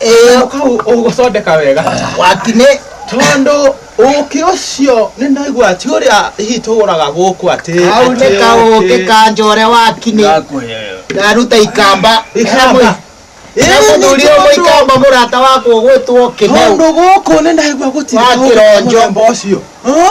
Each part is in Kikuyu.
ĩyo kau ũgũcondeka wega wakinĩ tondũ ũkĩ ũcio nĩ ndaigua ti ũrĩa hihi tũgũraga gũkũ atĩ kau nĩ kaũkĩ ka njore wakinĩ ndaruta ikamba Ikamba. mũthuri ũmwe ikamba mũrata wakwa ũgwĩtwo kĩmeu tondũ gũkũ nĩ ndaigua gũtirĩ Wa kĩronjo. mũthemba ũcio Hã?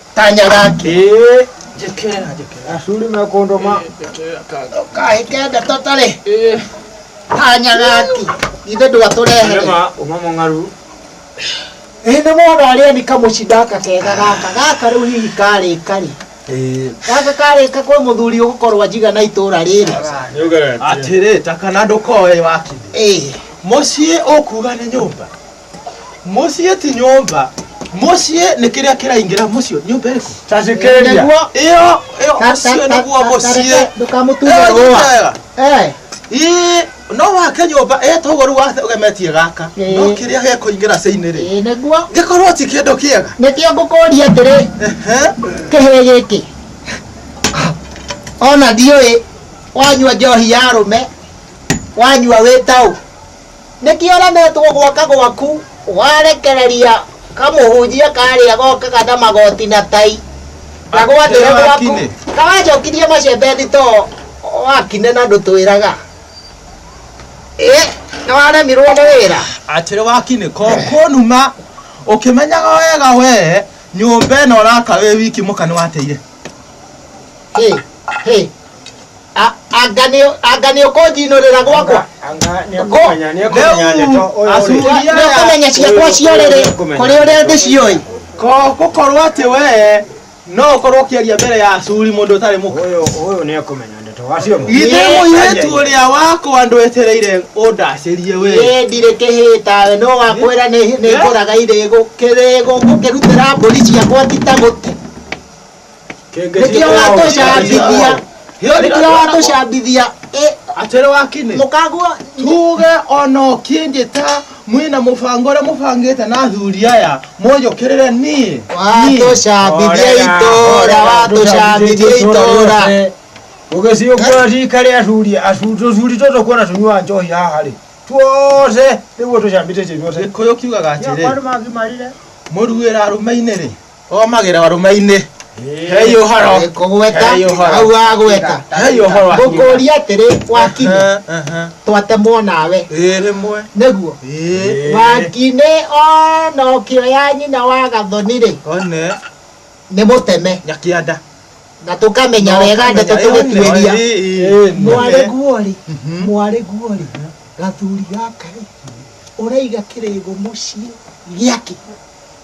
kanya gake Eh, njekera njekera Ashuri mekondo ma njekera kanga kahike ndeto tarĩ Eh, kanya gaki ithe ndwatũrehere Rema uma mongaru. ĩ nĩ mwana arĩa nĩ kamũcindaka kega gaka gaka rĩu hihi karĩka rĩ Eh, gaka karĩka kwĩ mũthuri ũgũkorwo njiga na itũũra rĩrĩ Nĩũgeretie. atĩrĩ takana ndũkoe wakiri ĩ mũciĩ ũkuga nĩ nyũmba muciĩ ti nyũmba muciĩ nĩ kĩrĩa kĩraingĩra muciĩ nyũmba ĩrĩkũ Tacikĩrĩria. Nĩguo. ĩyo ĩyo Ta- muciĩ ta- nĩguo ta- muciĩ ta- ndũkamũtume Ĩyo rũa. nyũmba ĩyo. Eh, Ĩĩ, no wake nyũmba ĩtoguo rĩu wathe ũgemetie gaka Ĩĩ. no kĩrĩa gekũingĩra cĩinĩ rĩ ĩĩ nĩguo gĩkorwo ti kĩndũ kĩega nĩkĩo ngũkũria atĩrĩ Ehe. kĩhĩ gĩkĩ ona ndiũĩ wanyua njohi ya rũme wanyua wĩ taũ Nĩkĩoranĩtwo gwaka gwaku warekereria kamũhunjia karĩa gokaga na magoti na tai na gwathĩre gwaku karacokirie macembe thito wakine na ndũtwĩraga ĩ nĩwaremirwo nĩ wĩra. Atĩrĩ wakine ko kũnuma ũkĩmenyaga wega wee nyũmba ĩno ũraka wĩ wiki mũka nĩwateire. Hey, hey. A- anga nĩ anga nĩ ũkũnjinũrĩra gwakwa nĩũkũmenya ciakwa ciorĩrĩ kũrĩ ũrĩa ndĩcioĩ gũkorwo atĩ wee no ũkorwo ũkĩaria mbere ya acuri mũndũ ũtarĩ mũka githĩ mũirĩtu ũrĩa wakwa ndwetereire ũndacĩrie wee Ĩĩ, ndirĩ kĩhĩtawe no wakwĩra nĩ nĩ ngũraga irĩgũ kĩrĩgũ ngũkĩrutĩra mbũri ciakwa ti ta gũte nĩkĩo watũcambithia nĩkĩo watũcambithia Ĩ, atĩrĩ wakinĩ mũkagwo tuge ona ũkĩnjĩta mwĩna mũbango ũrĩa mũbangĩte na athuri aya mũnjũkĩrĩre niĩ watũcambithia itũra watũcambithia itũra ũgĩciũkũra rika rĩa athuri acu- tũthuri tũtũ kuona tũnyua njohi haha rĩ tuothe nĩguo tũcambĩtĩtie inyuothe gĩkũyũ kiugaga atĩrĩ mũruĩra arũme-inĩ rĩ omagĩra warume-inĩ hei ũhoro kũgweta Hei ũhoro. hau wa gweta hei ũhoro wa ngũkũria atĩrĩ wakinĩ twatemwo nawe ĩ rĩmwe nĩguo ĩ wakinĩ ona ũkĩoya nyina wa gathoni-rĩ one nĩ mũteme nyakĩanda na tũkamenya wega ndeto tũgĩtuĩria mwarĩ guo-rĩ mwarĩ guo-rĩ gathuri gaka-rĩ ũraiga kĩrĩgo mũciĩ gĩake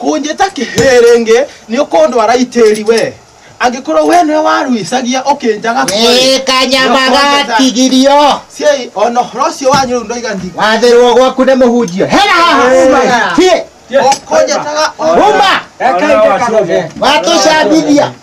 kũnjĩta kĩhĩrĩngĩ nĩ ũkũndwara itĩri we angĩkorwo we nĩwe waruicagia ũkĩnjaga kũrĩ kanyamaga tigirio ciai ona ũhoro ũcio wanyu rĩu ndoiga ndi wathĩrwo gwaku nĩ mũhunjio hera haha Hĩ, ũkũnjĩtaga o- uma Reke aingĩ karuge. watũcambithia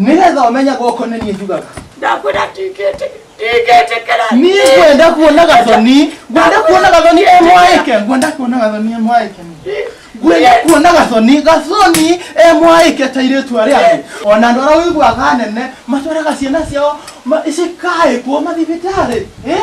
nĩgetha ũmenye gũkũ nĩ niĩ njugaga ndakwĩra ndingĩtĩkĩra niĩ ngwenda kuona gathoni ngwenda kuona gathoni e mwaĩke ngwenda kuona gathoni e mwaĩke ngwenda kuona gathoni gathoni e mwaĩke ta irĩtu arĩa angĩ ona andũ arĩa ũiguaga anene matwaraga ciana ciao ma- cikaĩkwo mathibitarĩ eh?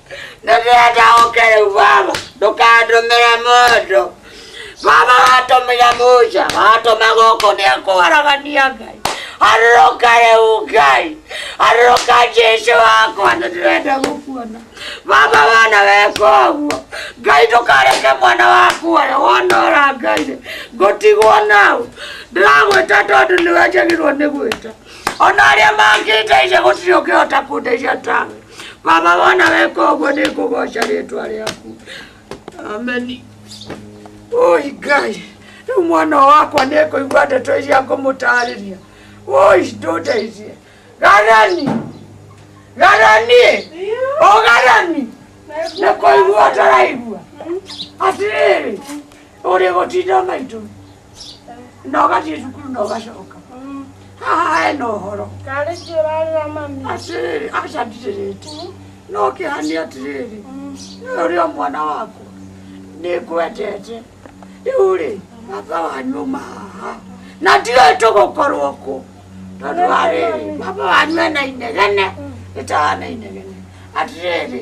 nĩndĩrenda ũke rĩu baba ndũkandũmĩre mũndũ baba watũmire musa watũma gũkũ nĩekwaragania ngai arũrũka rĩu ngai arũrũka jesu wakwa nĩndĩrenda gũkuona baba wana weka ũguo ngai ndũkareke mwana waku ũrĩa wonora ngai ngũtigwo nau ndĩragwĩta tondũ nĩwe njagĩrwo nĩ gwĩta ona arĩa mangĩndeithia gũtirĩ ũngĩhota kũndeithia tawe Baba wona weka ũguo nĩ ngũgoca rĩtwa rĩaku. Ameni. Oi Ngai, rĩu mwana ũyũ wakwa nĩ kũigua ndeto iria ngũmũtarĩria. Oi ndũndeithie. Garani! Garani! O Garani! Nĩ kũigua ũtaraigua. Atĩrĩrĩ, ũrĩ gũtinda maitũ. na ũgathiĩ cukuru na ũgacoka haha hena ũhoro atĩrĩrĩ aca ndirĩrĩte no kĩhani atĩrĩrĩ nĩwe ũrĩa mwana wakwa nĩngwendete rĩu rĩ baba wanyu uma haha na ndiũĩ tũgũkorwo kũ tondũ wa rĩrĩ baba wanyu ena inegene rĩtahana inegene atĩrĩrĩ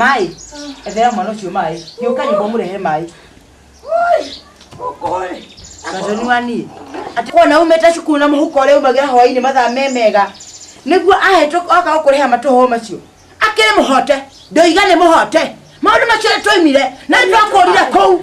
maĩ ethera mwana ũcio maĩ gĩũka nyũmba mũrehe maĩ gathoni wa niĩ atĩ kona umĩte cukuru na mũhuko ũrĩa umagĩra hwainĩ mathaa me mega nĩguo ahetwo oka gũkũrĩha matũhũ macio akĩrĩ mũhote ndoiga nĩ mũhote maũndũ macio nĩ twoimire na nĩ twakũrire kũu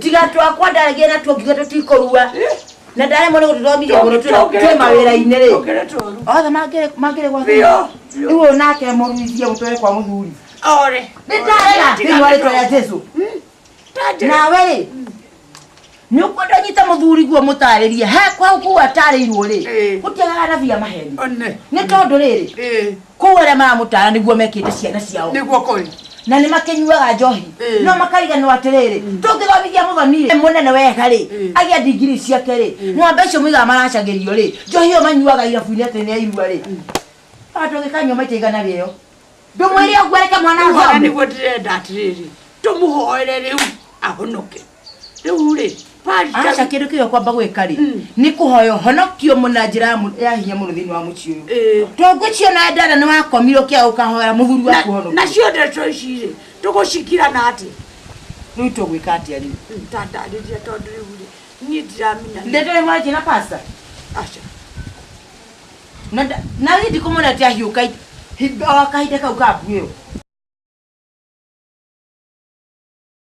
tiga twakwa ndaragia na tuongiga tũtikũrua na ndaremwo nĩ gũtũthomithia mũno twĩ mawĩra-inĩ rĩ othe mangĩrĩ gwa rĩu ũyũ nake mũruithie mũtware kwa mũthuri ore nĩ ndarega thĩinĩ wa rĩtwa rĩa jesu nawe rĩ nä å kwenda nyite må thuri guo må tarä rie he kwau kuu atarä irwo rä gå tiagaga nabi amaheni nä tondå rä rä kũu arĩa maramũtara nĩguo mekĩte ciana ciao nĩguo kũrĩ na nĩ makĩnyuaga njohi Ĩĩ. no makariganwo atĩrĩrĩ tũngĩthomithia mũthoni rĩ mũnene wega rĩ Ĩĩ. agĩa ndigiri ciake rĩ ng'ombe icio mũigaga maracagĩrio rĩ njohi ĩyo manyuaga irabu-inĩ atĩ nĩ ya irua rĩ andũ gĩkanyua maita igana rĩo ndũmwĩre ũguo reke mwana Rĩu ona athome nĩguo ndĩrenda atĩrĩrĩ tũmũhoere rĩu ahonoke Rĩu rĩ, Aca Wanja kĩndũ kĩo kwamba gwĩka rĩ nĩ kũhoya ũhonokio mũ- na njĩra ya mũ- ya hinya mũno thĩinĩ wa mũciĩ ũyũ Ĩĩ. to ngwĩcio na ndana nĩ wakomirwo kĩa ũkahoya mũthuri na- waku ũhonokio nacio ndeto ici rĩ tũgũcigira na atĩ rĩu tũgwĩka atĩa rĩu tandarĩria tondũ rĩu rĩ niĩ ndiramenya nĩ- ndeto ĩmwarĩtie na pasta aca na nda- na niĩ ndikũmwona atĩ ahiũka i- hi- o kahinda kau ka mbu ĩyo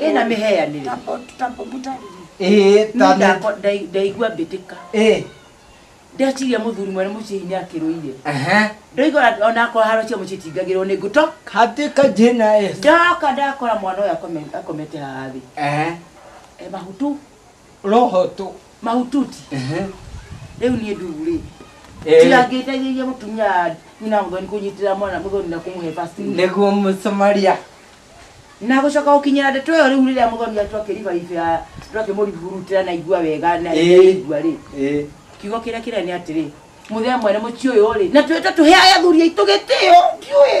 ĩna mĩheanĩre ndaigua mbĩtĩka ndeciria muthuri mwene mucii ni akiruire ndoigora ona akwa haro cia mucii tingagirwo ni nguto hatika jina es ndoka ndakora mwana uyu akomete haha thi e mahutu roho tu mahututi ehe rĩu niĩ ndugu rĩ Eh. tiga ngĩteithĩrĩria mũtumia nyina mũthoni kũnyitĩra mwana mũthoni na kũmũhe vaccine nĩguo mũsomaria na gũcoka gũkinyĩra ndeto ĩyo rĩu rĩrĩa mũthoni atu akĩribariba akĩmũribhurutĩra na igua wega na Eh. igua rĩ Eh, kiugo kĩrĩa kĩrĩa nĩ atĩrĩ mũthee mwene mũciĩ ũyũ rĩ na twĩte tũheage athuri aitũ gĩtĩo ndiũĩ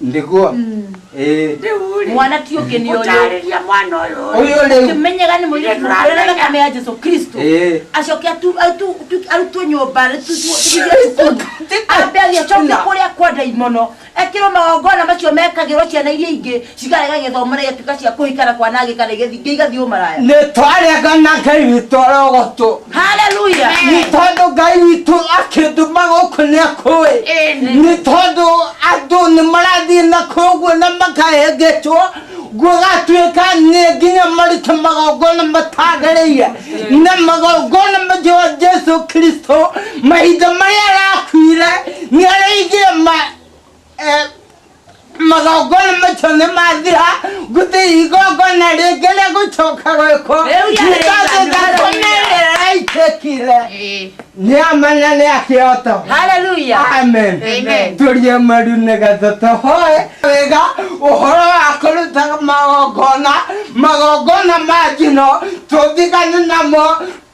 ndiguo eh Rĩu-rĩ, mwana ti ũngĩ nĩ ũyũ gũtaarĩria mwana ũyũ Ũyũ rĩu. ũkĩmenyaga nĩ mũirĩtu Nĩ mũkũrĩra tũramenya. thakame ya jesu kristo Eh. acoke atu- atu- tu- arutwo nyũmba rĩ- tu- tu- tũthiĩ cukuru ambe athiĩ acoke Tuna. kũrĩa kwa ndaimono ekĩrwo magongona macio mekagĩrwo ciana iria ingĩ cikarega gĩthomo na igatuĩka cia kũhikana kwanangĩka na igathiĩ igathiĩ ũmaraya nä twaregana ngai witå arogotå haleluya nĩ tondũ ngai witũ akĩndũma gũkũ nĩ akũĩ nĩ tondũ andũ nĩ marathiĩ na koguo na makahengecwo gũgatuĩka nĩ nginya marute magongona matagĩrĩire na magongona macio ma jesu kristo mahinda marĩa arakuire nĩ arĩigire ma Eh, magongona macio nĩ mathira gũtĩ igongona rĩngĩ rĩa gũcoka gwĩkwo Rĩu ya rĩngĩ thakame ĩraitĩkire Eh, nĩ amanya nĩ akĩoto Hallelujah. amen Amen. tũrie maru nĩgetha tũhoe wega ũhoro wa kũruta magongona magongona ma njino tũthigane namo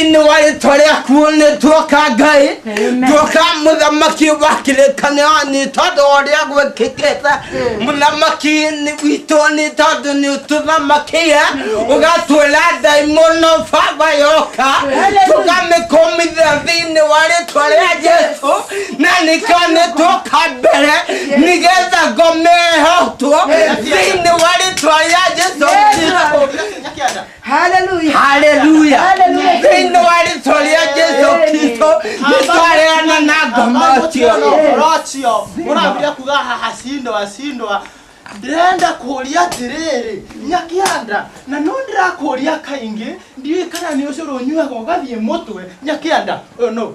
nĩ warĩ twarĩa kuo nĩ tuoka ngai tuoka mũthamaki wa kĩrĩkanĩro nĩ tondũ wa ũrĩa gwĩkĩkĩte mũthamaki nĩ- witũ nĩ tondũ nĩ ũtũthamakia ũgatwĩra ndaimono baba yoka tũkamĩkũmithia thĩinĩ wa rĩtwa rĩa jesu na nĩkĩo nĩ tuoka mbere nĩgetha ngome ĩhotwo thĩinĩ wa rĩtwa rĩa jesu Kristo. Hallelujah. haleluya Hallelujah. thĩinĩ wa rĩtwa rĩa jesu kristo nĩtwareana na ngomocio Rocio, mũrambia kuga haha cindwa cindwa ndĩrenda kũria atĩrĩrĩ nyakĩanda na no ndĩrakũria kaingĩ ndiũĩ kana nĩ ũcũrũ ũnyuaga ũgathiĩ mũtwe nyakĩanda ũyũ no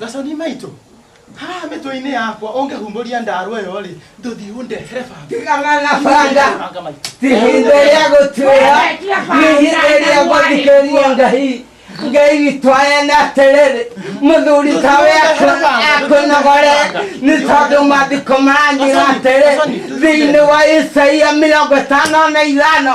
Gaconi maitũ, haha mĩtwe-inĩ yakwa ũngĩhumbũria ndarwa ĩyo rĩ, ndũthiĩ ũndehere banga. Tigana na banga. Banga maitũ. Ti ihinda rĩa gũtuĩra, nĩ ihinda rĩa gũthikĩrĩria Ngai. Ngai witũ aya na atĩrĩrĩ, mũthuri tawe akũnogore nĩ tondũ maandĩko maranyĩra atĩrĩ thĩinĩ wa Isaia mĩrongo ĩtano na ithano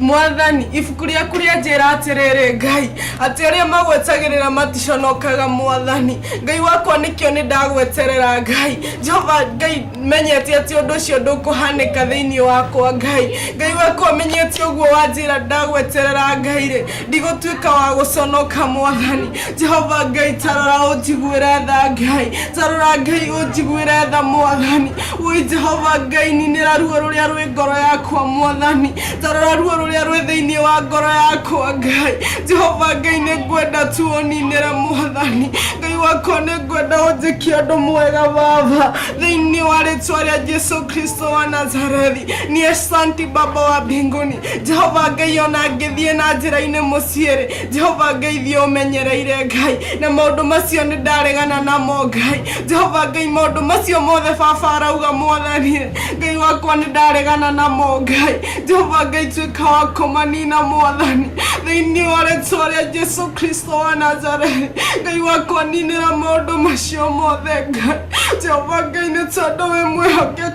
mwathani ibuku rĩaku rĩanjĩra atĩrĩrĩ ngai atĩ arĩa magwetagĩrĩra maticonokaga mwathani ngai wakwa nĩkĩo nĩ ndagweterera ngai jehova ngai menyete atĩ ũndũ ũcio ndũkũhanĩka thĩinĩ wakwa ngai ngai wakwa menyete ũguo wanjĩra ndagweterera ngai rĩ ndigũtuĩka wa gũconoka mwathani jehova ngai tarora ũnjiguĩre tha ngai tarora ngai ũnjiguĩre tha mwathani woi jehova ngai ninĩra ruo rũrĩa rwĩ ngoro yakwa mwathani tarora ruo rũrĩa rwĩ thĩinĩ wa ngoro yakwa ngai jehova ngai nĩ ngwenda tu ũninĩre mwathani ngai wakwa nĩ ngwenda ũnjĩkie ũndũ mwega baba thĩinĩ wa rĩtwa rĩa jesu kristo wa nazarethi niĩ santi baba wa mbinguni jehova ngai ona ngĩthiĩ na njĩra-inĩ mũciĩ-rĩ jehova ngai thiĩ ũmenyereire ngai na maũndũ macio nĩ ndaregana namo ngai jehova ngai maũndũ macio mothe baba arauga mwathani ngai wakwa nĩ ndaregana namo ngai jehova ngai tuĩka wa kũmanina mwathani thĩinĩ wa rĩtwa rĩa jesu kristo wa nazarethi ngai wakwa ninĩra maũndũ macio mothe ngai jehova ngai nĩ tondũ wĩ mwĩhokeku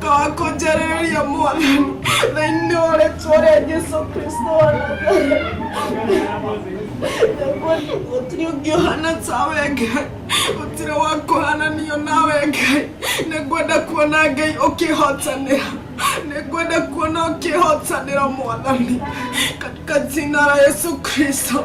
Twakonjereria mwana thĩinĩ wa rĩtwa rĩa Jesu Kristo wa Nazareti. Gũtirĩ ũngĩ ũhana tawe Ngai, gũtirĩ wa kũhananio nawe Ngai. Nĩ ngwenda kuona Ngai ũkĩhotanĩra, nĩ ngwenda kuona ũkĩhotanĩra mwathani, katika jina la Yesu Kristo.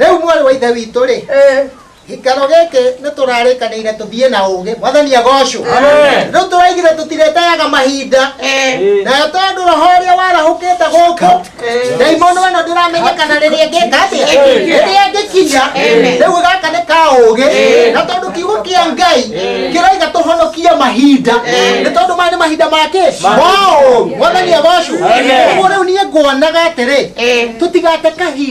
rĩu mwarĩ wa ithe witũ rĩ gĩkaro gĩkĩ nĩ tũrarĩkanĩire tũthiĩ na ũgĩ mwathani agocwo rĩu tũraigire tũtireteaga mahinda nayo tondũ roho ũrĩa warahũkĩte gũkũ ndaimono ĩno ndĩramenya kana rĩrĩa ngĩka atĩa rĩrĩa ngĩkinya rĩu gaka nĩ ka ũgĩ na tondũ kiugo kĩa ngai kĩroiga tũhonokie mahinda nĩ tondũ maya nĩ mahinda makĩ maũ mwathani agocwo ũguo rĩu niĩ nguonaga atĩrĩ tũtigate kahinda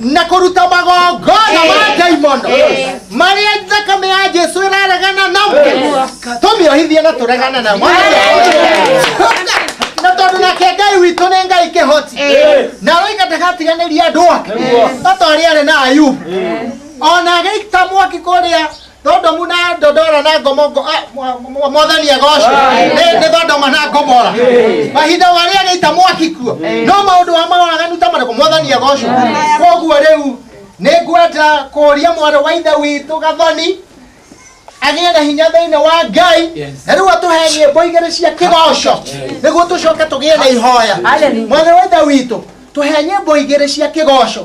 na kũruta magongona ma ndaimono marĩa thakame ya jesu ĩraregana namo tũmĩohithie na tũregane namo na tondũ nake ngai witũ nĩ ngai kĩhoti na roiga ndagatiganĩria andũ ake ta ta ũrĩa arĩ na ayubu ona agĩita mwaki kũrĩa Thodomu na Dodora na Gomogo ah, mwa- mwa- mwathani agocwo nĩ nĩ Thondoma na Gomora mahinda marĩa gĩita mwaki kuo no maũndũ wa mawaganu ta marĩkũ mwathani agocwo koguo rĩu nĩ ngwenda kũria mwarĩ wa ithe witũ gathoni agĩe na hinya thĩinĩ wa ngai na rĩu atũhe nyĩmbo igĩrĩ cia kĩgoco nĩguo tũcoke tũgĩe na ihoya mwarĩ wa ithe witũ tũhe nyĩmbo igĩrĩ cia kĩgoco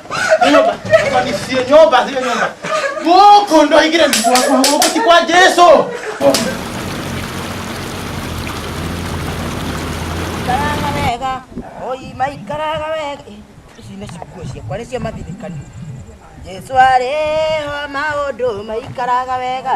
Nyumba. Hapa ni sio nyumba, sio nyumba. Boko ndo ingine ni kwa kwa kwa si kwa Yesu. Ikaraga wega. Oi, maikaraga wega. Eh, Ici nĩ cikuo cia kwa nĩcio mathirikani. Jesu arĩ ho maũndũ maikaraga wega.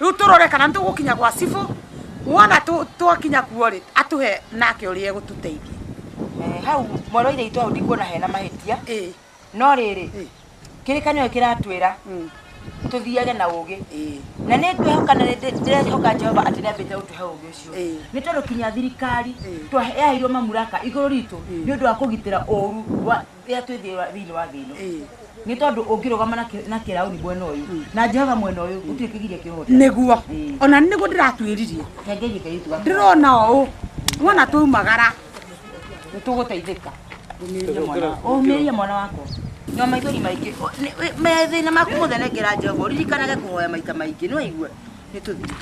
Rĩu tũrore kana nĩ tũgũkinya gwa cibũ, wona tũ- twakinya kuo rĩ atũhe nake ũrĩa egũtũteithia Eh, hau mwarĩ wa ithaitũ hau ndikuona hena mahĩtia ĩĩ no rĩrĩ ĩĩ kĩrĩkanĩro kĩratwĩra mm, tũthiage na ũgĩ ĩĩ na nĩ ngwĩhoka na nĩ- ndĩrehoka jehova atĩ nĩambĩte gũtũhe ũgĩ ũcio Ĩĩ. nĩ tondũ kinya thirikari Ĩĩ. twaheairwo mamuraka igũrũ ritũ nĩ ũndũ wa kũgitĩra ũru wa rĩrĩa twĩ thĩ wa- thĩinĩ wa thĩ ĩno Ĩĩ. nĩ tondũ ũngĩrũgama na kĩ- na kĩrauni mwena ũyũ na jehova mwena ũyũ gũtirĩ kĩgiria kĩhote nĩguo Ĩĩ. ona nĩguo ndĩratuĩririe kengerie ngai tuga ndĩrona ũũ wona twaumagara nĩ tũgũteithĩka Ũmĩrĩrie mwana- ũmĩrĩrie mwana wakwa nyua maithori maingĩ Ũ- nĩ- wĩ- methĩna maku mothe nengera jehova ũririkanage kũhoya maita maingĩ nĩ waigua nĩ tũthiĩ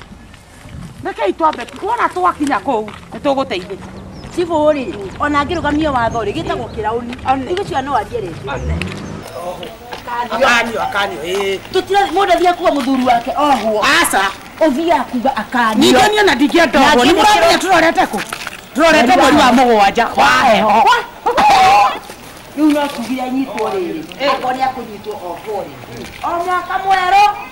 rekei twambe wona twakinya kũu nĩ tũgũteithĩka cibũ rĩ ona ngĩrũgamia watho rĩ gĩtagwo kĩrauni igĩcio no arie rĩngĩ akanio akanio ĩĩ tũtira mũndũ athiĩ kuga mũthuri wake ohwo aca ũthiaga kuga akanio ningĩ niĩ na ndingĩenda ũguo nĩ mũramenya tũrorete kũ tũrorete mweri wa mũgwanja wa heho rĩu no tuge anyitwo rĩrĩ akorwo nĩ akũnyitwo ohwo rĩ o mwaka mwerũ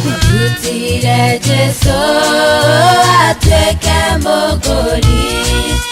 Tutire Jesu atuĩke mũgũri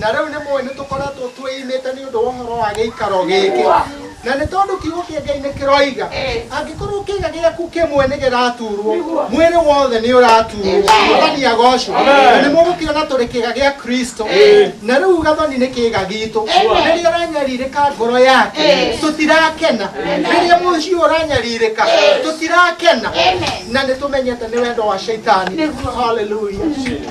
Na rĩu nĩ mũĩ nĩ tũkoretwo twĩimĩte nĩ ũndũ wa ũhoro wa gĩikaro gĩkĩ. Na nĩ tondũ kiugo kĩa Ngai nĩ kĩroiga, angĩkorwo kĩĩga gĩaku kĩmwe nĩ gĩraturwo, mwĩrĩ wothe nĩ ũraturwo. Mwathani agocwo. Na nĩ mũgũkĩona tũrĩ kĩĩga gĩa Kristo. Na rĩu gathoni nĩ kĩĩga gitũ. Rĩrĩa ũranyarirĩka ngoro yake, tũtirakena. Rĩrĩa mũciĩ ũyũ ũranyarirĩka, tũtirakena. Na nĩ tũmenyete nĩ wendo wa Shaitani. Hallelujah.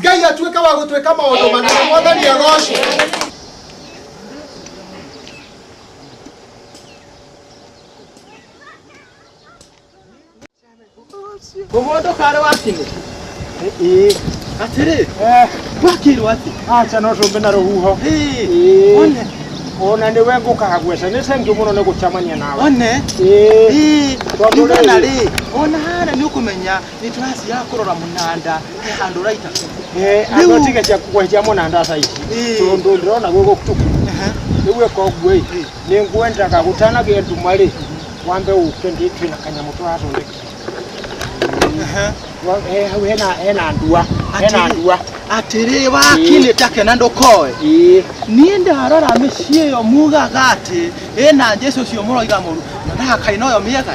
ngai atuĩke wa gũtuĩka maũndũ manene mwathani agocwo Umundo kare wakini. Eh. Atiri. Eh. Wakiri wati. Acha no tumbe na ruhuho. Eh. One. Ona ni wengu kahagwesa ni sengi muno ni gucamania nawe. One. Eh. Tondu na ri. Ona hara ni ukumenya. nĩ tũrathira kũrora mũnanda he handũ ũraita Eh, Rĩu- andå tige cia kwehetia må na ndata ici Ĩĩ. tondå ndä rona gwä gå tuku rä u ä ka å guo Ĩĩ. nä ngwendaga gå tanagä nduma rä wambe å ke ndä twä na kanyamå tå rathondeka Wa- he- hau hena- hena ndua hena Atĩrĩ. ndua atĩrĩ wakinĩ take na ndũkoe Ĩĩ. niĩ ndarora mĩciĩ ĩyo mugaga atĩ ĩna njĩci ũcio mũroiga mũru na ndakaina ũyo mĩega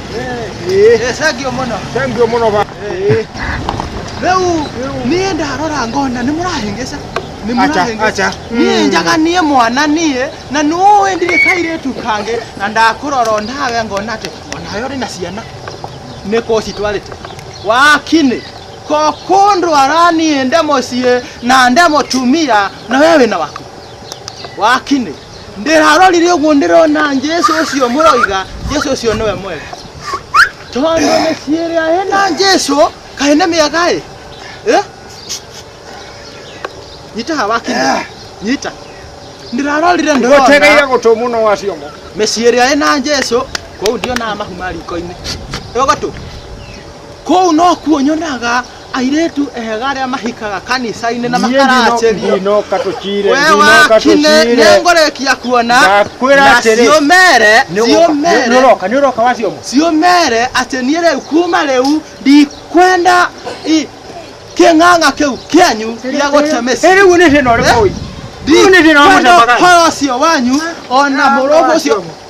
Eh, thank you mũno Thank you mũno ba. Eh. rĩu niĩ ndarora ngona nĩ mũrahĩngĩca Nĩ Acha, mũrahĩngĩca. acha. niĩ Mm. njaga niĩ mwana niĩ na nũĩ ndirĩ kairĩtu kangĩ na ndakũrora o nawe ngona atĩ onawe ũrĩ na ciana nĩ kũ citwarĩte wakinĩ ko kũndwara niĩ nde mũciĩ na nde mũtumia na we wĩna waku wakinĩ ndĩrarorire ũguo ndĩrona Jesu ũcio mũroiga Jesu ũcio nĩwe mwega tondũ mĩciĩ ĩrĩa ĩna Jesu kaĩ nĩ mĩega ĩ Eh? nyita haha wakinya nyita ndĩrarorire ndĩrona Gũtegeire gũtũ mũno wa ciongo. mĩciĩ ĩrĩa ĩna Jesu kũu ndionaga mahu ma riko-inĩ ĩgogatũ kũu nokuo nyonaga Airĩtu ega arĩa mahikaga kanicainĩ na makaracĩrio. Ndinoka tũcire, We ndinoka wakine tũcire. nĩngũrĩkia kuona Ndakwĩra na atĩrĩ, ciũmere ciũmere Nĩũroka, nĩũroka wacioma. ciũmere atĩ niĩ rĩu kuma rĩu ndikwenda i- kĩng'ang'a kĩu kĩanyu gĩa gũte mĩciĩ Ĩ rĩu nĩ thĩna ũrĩkũ ũyũ? Rĩu nĩ thĩna wa ndikwenda mũcamaga. ũhoro ũcio wanyu ona mũrũgũ ũcio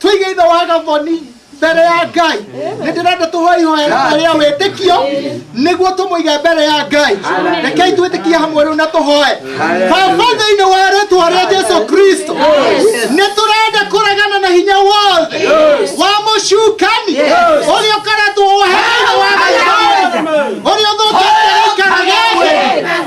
tũige ithe wa gathoni mbere ya ngai nĩ ndĩrenda tũhoe ihoya rĩmwe rĩa wĩtĩkio nĩguo tũmũige mbere ya ngai rekei twĩtĩkie hamwe rĩu na tũhoe baba thĩinĩ wa rĩtwa rĩa jesu kristo nĩ tũrenda kũregana na hinya wothe wa mũcukani ũrĩa ũkaretwo ũheire wa gathoni ũrĩa ũthũkĩte gĩikaro gĩkĩ